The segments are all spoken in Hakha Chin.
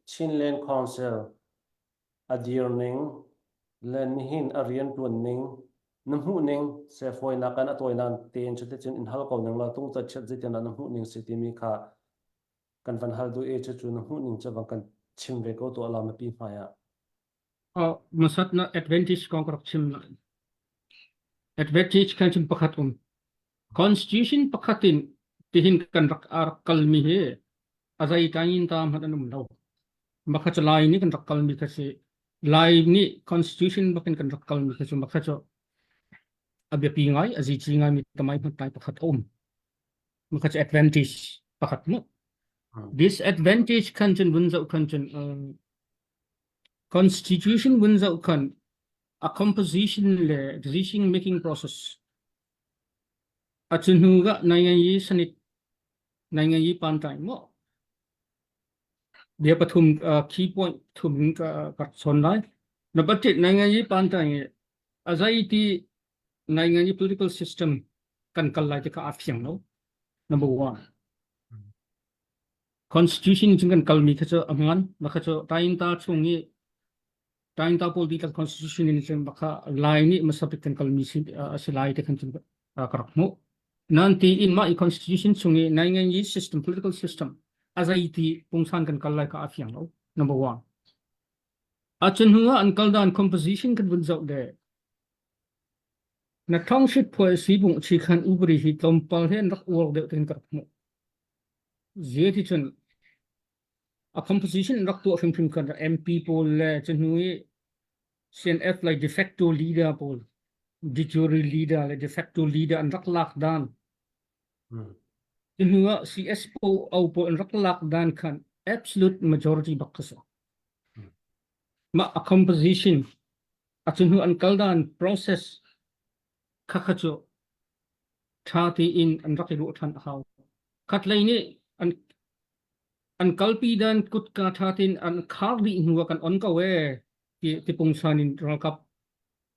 Chinland Council, A dir ning le nihin a riantuan ning na hmuh ning sefawinak in a tawilan tein cuticun in hal ko ning law tung ca chiat zitian na hmuh ning si timi kha kan van hal duh i cucu na hmuh ning cu bang kan chim ve ko tuah la mapi hmai ah. Uh, masat na advantage kong ka rak chim na. Advantage kan chim pakhat um. Constitution pakhat in tihin kan rak rak kalmi hi azai tangin ta man anum lo. Maka cho lai ni kan rak kalmi ka si. Lai ni constitution bakin kan rak kalmi ka si maka cho abiapi ngai azici ngai mi tamai man tai pakhat um. Maka cho advantage pakhat mu. Disadvantage kan chun bunzau kan chun Constitution vun zoh khan a composition le decision making process a cu hnu ga nai ngai sanit nai ngai pan tai mo dia pathum key point thum ka ka son lai na budget nai ngai pan tai a zai ti nai ngai political system kan kal lai te ka a fiang lo number one Constitution cun kan kalmi kha cu a hmaan. Mah kha cu Tainta chung i Tainta pawl dihlak constitution in cun bakha lai nih masabik kan kalmi si a si lai te khan cun ka rak hmuh. Nan ti in mah i constitution chung i nai ngai i system political system a zeiti pungsan kan kal lai ka a fiang lo. Number one. A chun hnuah an kal dan composition kan vun zoh de. Na thongship phuai si bung chi khan ubri hi tlawmpal he an rak uar deuh ten ka rak hmuh. Zeticun a composition rak tuah hrimhrim khan MP pawl le cuhnu i CNF le de facto leader pawl de jure leader le de facto leader an rak lak dan cuhnu ah CS PO pawl an rak lak dan khan absolute majority bak ka si mah a composition a cuhnu an kal dan process Khakha cu ṭha tein an rak i ruah ṭhan a hau. Khatlei nih an an kalpi dan kutka ṭha tein an khar dih hnu ah kan on ko ee ti tipungsan in ralkap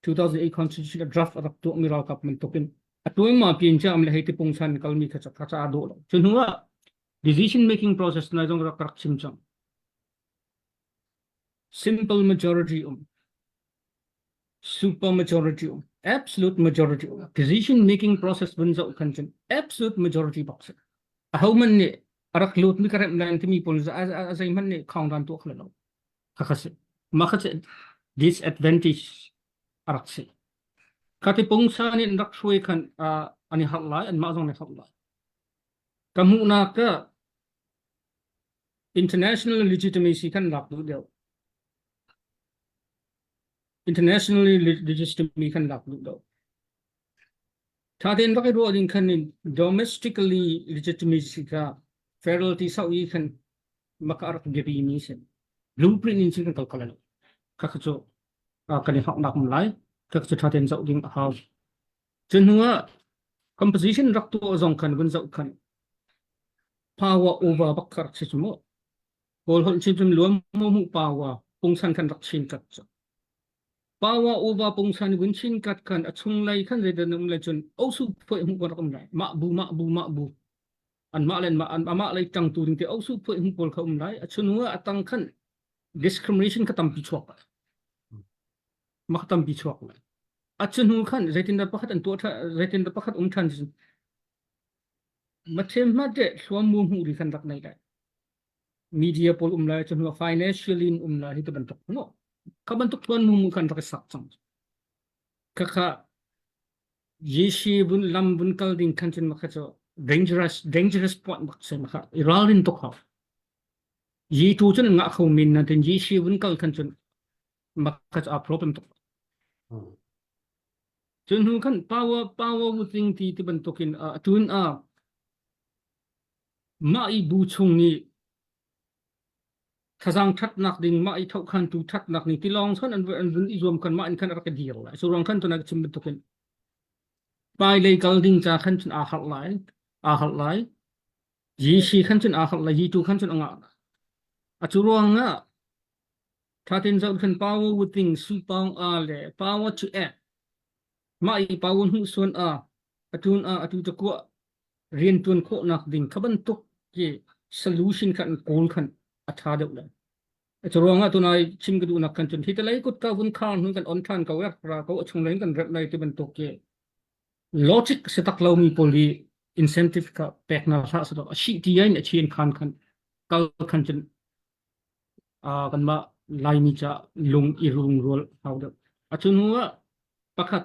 2008 constitution a draft a rak tuahmi ralkap bantuk in a tuaima piin ciam le hei tipungsan in kalmi kha ca kha ca a dawh lo. Cu hnu ah decision making process nai zong rak rak chim cang. Simple majority um. Super majority of absolute majority of decision making process ban zoh khan cun absolute majority box a ho man nih a rak lut mi ka rem lan timi pun za a zei man nih khong dan tuak lo kha si ma kha se disadvantage a rak si ka ti pung sa ni rak shui khan ani har lai an ma zong ne thok lai ka mu na ka international legitimacy kan lak du deu Internationally legitimately kan lak duh do. Thaten bak i ruah ding kan in domestically legitimacy ka federality sau i kan maka rak biapi mi se. Blueprint in sin kan kalkala lo. Kaka cho kan i hak nak lai kaka cho thaten zau ding a hau. Chen hua composition rak tu zong kan bun zau kan power over bak kar che chumo. Kawl holh chinhrim luam mo mu pawa pungsan kan rak chin kat cu. Pawa uva pungsan gun chin kat kan a chung lei kan redan um lai cun osu phuai mu kan rak um lai ma bu ma bu ma bu an ma len ma an ma lei tang tu ding te osu phuai mu pol kha um lai a chunu a tang khan discrimination ka tam pi chuak ma ka tam pi chuak lai a chunu khan zeitin da pakhat an tua tha zeitin da pakhat um than ma them ma te thluam mu mu ri kan rak nei lai media pawl um lai cun financial in um lai hi ti bantuk no kha bantuk tuan mu kan rak sak chang kaka yeshi bun lam bun kal ding khan chin makha cho dangerous dangerous point bak se makha iralin to kha ye tu chun nga kho min na tin yeshi bun kal khan chun makha a problem to chun hu khan power power bu ting ti ti bantukin tun a Mah i bu chung nih thazaang thatnak ding, mah i thokhantu thatnak ding tilawng chuan an an vun i zuam khan mah in khan a rak ka dir lai. Surang khan tuna ka chim bantukin hmailei kal ding ca khan cun aa harh lai, aa harh lai. Jesuh khan cun aa harh lai, Jesuh khan cun a ngah lai. A cu ruangah thatin zoh khan power within su pawng a le power to act mah i power hmuh suan a atun a atu cakua riantuan khawhnak ding kha bantuk ki solution khan goal khan a tha deuh le cu ruangah tu nai chim ka duhnak kan chun hi talai kut ka vun khar nu kan on than ko ya ra ko chung len kan rep nai ti bantuk ki logic se tak lo mi pol hi incentive ka pek na hla sa to shi ti ai ne chien khan khan kal khan chun a kan ma lai ni cha lung i rung rol hau de a chun huwa pakhat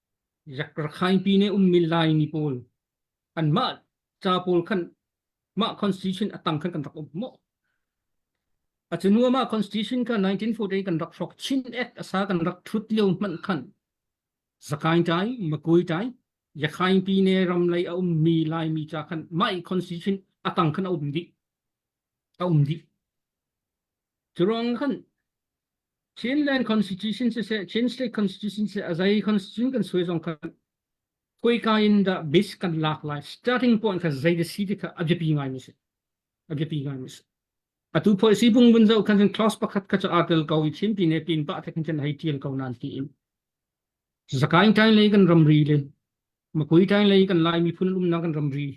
Rak rakhaipi ne ummi Laini pawl kan mah ca pawl khan mah constitution atang khan kan rak um maw acunu amah constitution ka 1948 kan rak hrok chin act asa kan rak thut lio man khan zakai tai makui tai yakhai pi ne ram lei a um mi lai mi cha khan mai constitution atang khan a um di a um di Curuang kan Chinland Constitution siseh, Chin State Constitution siseh, azai constitution kan soi zong khan koi ka in da base kan lak lai starting point kha zai de si ti kha abjapi ngai mi si abjapi ngai mi si atu policy bung bun zo khan clause pakhat kha cha article ko i thim pi ne pin pa thek chen hai tiang ko nan ti in zakain tain lei kan ramri le makui tain lei kan lai mi phun lum na kan ramri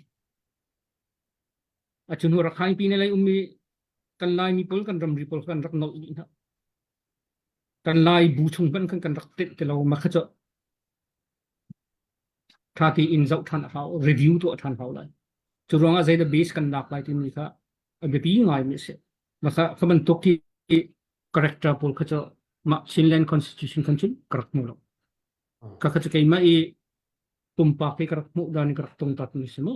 achunu rakhain pi ne lei ummi kan Laimi pawl kan ramri pawl kan rak nolh dih hna kan Lai bu chung ban kan kan rak tenh ti lo ma kha cu tha tiin zoh than a hau review tu a than hau lai cu ruangah zeidah base kan lak lai timi kha a biapi ngai mi si ma kha ka man tok ki character pawl kha cu ma Chinland Constitution kan cun karak mu lo ka kha cu keima i pumpak hi karak mu dan karak tung tat mi si mu